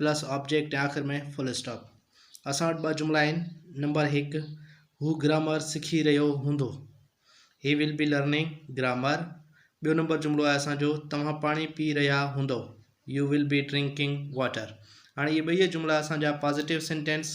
Plus object ۽ آخر ۾ full stop. اسان وٽ ٻه جملا آهن. نمبر هڪ، هو گرامر سکي رهيو هوندو. He will be learning grammar. ٻيو نمبر جملو آهي اسان جو توهان پاڻي پي رهيا هوندو. You will be drinking water. هاڻي اهي ٻئي جملا اسان جا پازيٽو سينٽينس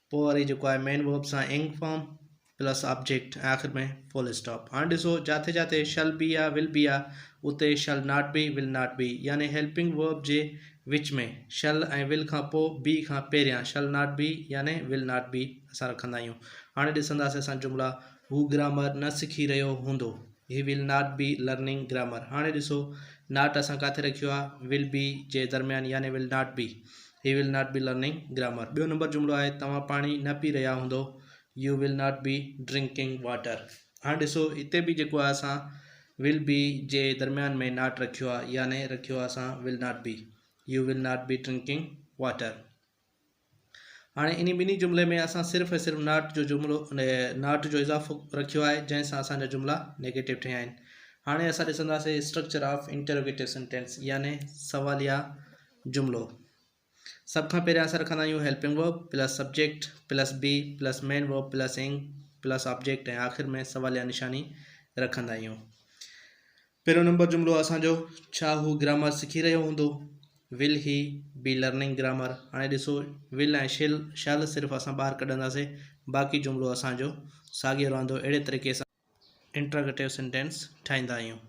پوء وري جيڪو آهي مين ورب سان انگ فارم پلس آبجيڪٽ ۽ آخر ۾ فل اسٽاپ هاڻي ڏسو جاٿي جاٿي شل بي آ ول بي آ اتي shall not be will not be يعني هيلپنگ ورب جي وچ ۾ شل ۽ ول کان پوء بي کان پهريان شل ناٽ بي يعني ول ناٽ بي اسان رکندا آهيون هاڻي ڏسنداسي اسان جملا هو گرامر نه سکي رهيو هوندو he will not be learning grammar هاڻي ڏسو ناٽ اسان ڪاٿي رکيو آ ول بي جي درميان يعني will not be He will not be learning grammar. ٻيو نمبر جملو آهي توهان پاڻي نه پي رهيا هوندو You will not be drinking water. هاڻ ڏسو هتي به جيڪو آهي اسان will be جي درميان ۾ not رکيو آهي يعني رکيو آهي اسان will not be. You will not be drinking water. هاڻي انهي ٻنهي جملي ۾ اسان صرف ۽ صرف ناٽ جو جملو ناٽ جو اضافو رکيو آهي جنهن سان اسان جا جملا نيگيٽو ٺهيا آهن هاڻي اسان ڏسنداسين اسٽرڪچر آف انٽروگيٽو سينٽينس يعني سواليا جملو، سڀ کان پهريان اسان رکندا آهيون helping verb plus subject plus be plus main verb plus ing plus object ۽ آخر ۾ سواليا نشاني رکندا آهيون پهريون نمبر جملو اسان جو ڇا هو گرامر سکي رهيو هوندو will he be learning grammar هاڻي ڏسو ول ۽ شل شل صرف اسان ٻاهر ڪڍنداسي باقي جملو اسان جو ساڳيو رهندو اهڙي طريقي سان انٽراگيٽو سينٽينس ٺاهيندا آهيون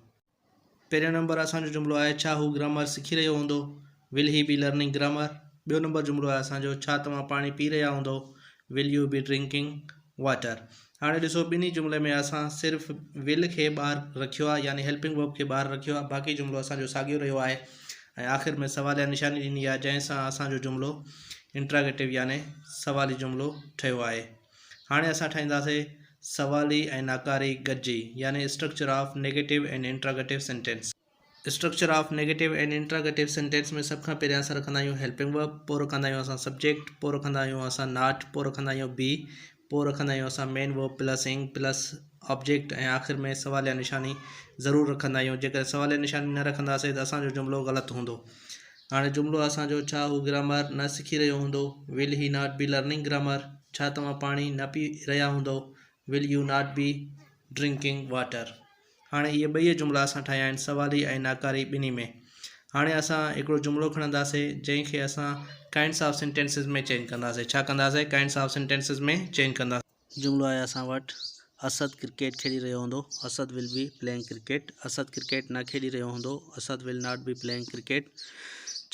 پهريون نمبر اسان جو جملو آهي ڇا هو گرامر سکي رهيو هوندو Will he be learning grammar؟ ٻيو نمبر جملو آهي اسان جو ڇا توهان پاڻي پي رهيا هوندو Will you be drinking water؟ هاڻي ڏسو ٻنهي جملي ۾ اسان صرف Will کي ٻاهر رکيو آهي يعني هيلپنگ ورب کي ٻاهر رکيو آهي باقي جملو اسان جو ساڳيو رهيو آهي ۽ آخر ۾ سواليه نشاني ڏني آهي جنهن سان اسان جو جملو انٽراگيٽو يعني سوالي جملو ٺهيو آهي هاڻي اسان ٺاهينداسين سوالي ۽ ناڪاري گڏجي يعني structure of negative and interrogative sentence. Structure of negative and interrogative sentence ۾ سڀ کان پهريان اسان رکندا آهيون هيلپنگ ورب، پوء رکندا آهيون اسان سبجيڪٽ، پوء رکندا آهيون اسان ناٽ، پوء رکندا آهيون بي، پوء رکندا آهيون اسان main verb plus ing plus object ۽ آخر ۾ سواليه نشاني ضرور رکندا آهيون. جيڪڏهن سواليه نشاني نه رکنداسين ته اسان جو جملو غلط هوندو. هاڻي جملو اسان جو ڇا هو گرامر نه سکي رهيو هوندو will he not be learning grammar ڇا توهان پاڻي نه پي رهيا هوندو will you not be drinking water هاڻي اهي ٻئي جملا اسان ٺاهيا آهن سوالي ۽ ناڪاري ٻنهي ۾ هاڻي اسان هڪڙو جملو کڻنداسين جنهن کي اسان ڪائنڊس آف سينٽينسز ۾ چينج ڪنداسين ڇا ڪنداسين ڪائنڊس آف سينٽينسز ۾ چينج ڪنداسين جملو آهي اسان وٽ اسد ڪرڪيٽ کيڏي رهيو هوندو Asad will be playing cricket Asad cricket نه کيڏي رهيو هوندو Asad will not be playing cricket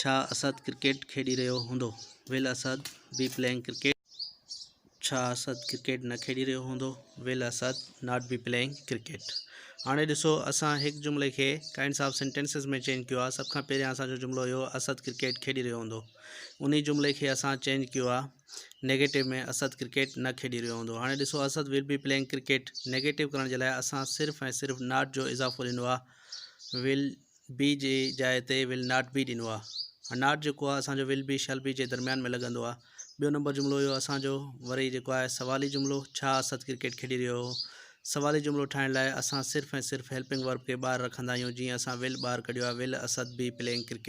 ڇا اسد ڪرڪيٽ کيڏي رهيو هوندو will Asad be playing cricket ڇا اسد ڪرڪيٽ نه کيڏي رهيو هوندو will Asad not be playing cricket هاڻي ڏسو اسان هڪ جملي کي ڪائنڊس آف سينٽينسز ۾ چينج ڪيو سڀ کان پهريان اسان جو جملو هيو اسد ڪرڪيٽ کيڏي رهيو هوندو انهي جملي کي اسان چينج ڪيو نيگيٽو ۾ اسد ڪرڪيٽ نه کيڏي رهيو هوندو هاڻي ڏسو Asad will be playing cricket negative ڪرڻ جي لاء اسان صرف ۽ صرف ناٽ جو اضافو ڏنو آهي ويل بي جي جاء تي ويل ناٽ بي ڏنو آهي ناٽ جيڪو آهي اسانجو ويل بي شل بي جي درميان ۾ لڳندو آهي ٻيو نمبر جملو اهو اسانجو وري جيڪو آهي سوالي جملو ڇا اسد ڪرڪيٽ کيڏي رهيو هو سوالي جملو ٺاهڻ لاء اسان صرف ۽ صرف هيلپنگ ورب کي ٻاهر رکندا آهيون جيئن اسان ويل ٻاهر ڪڍيو آهي will Asad be playing cricket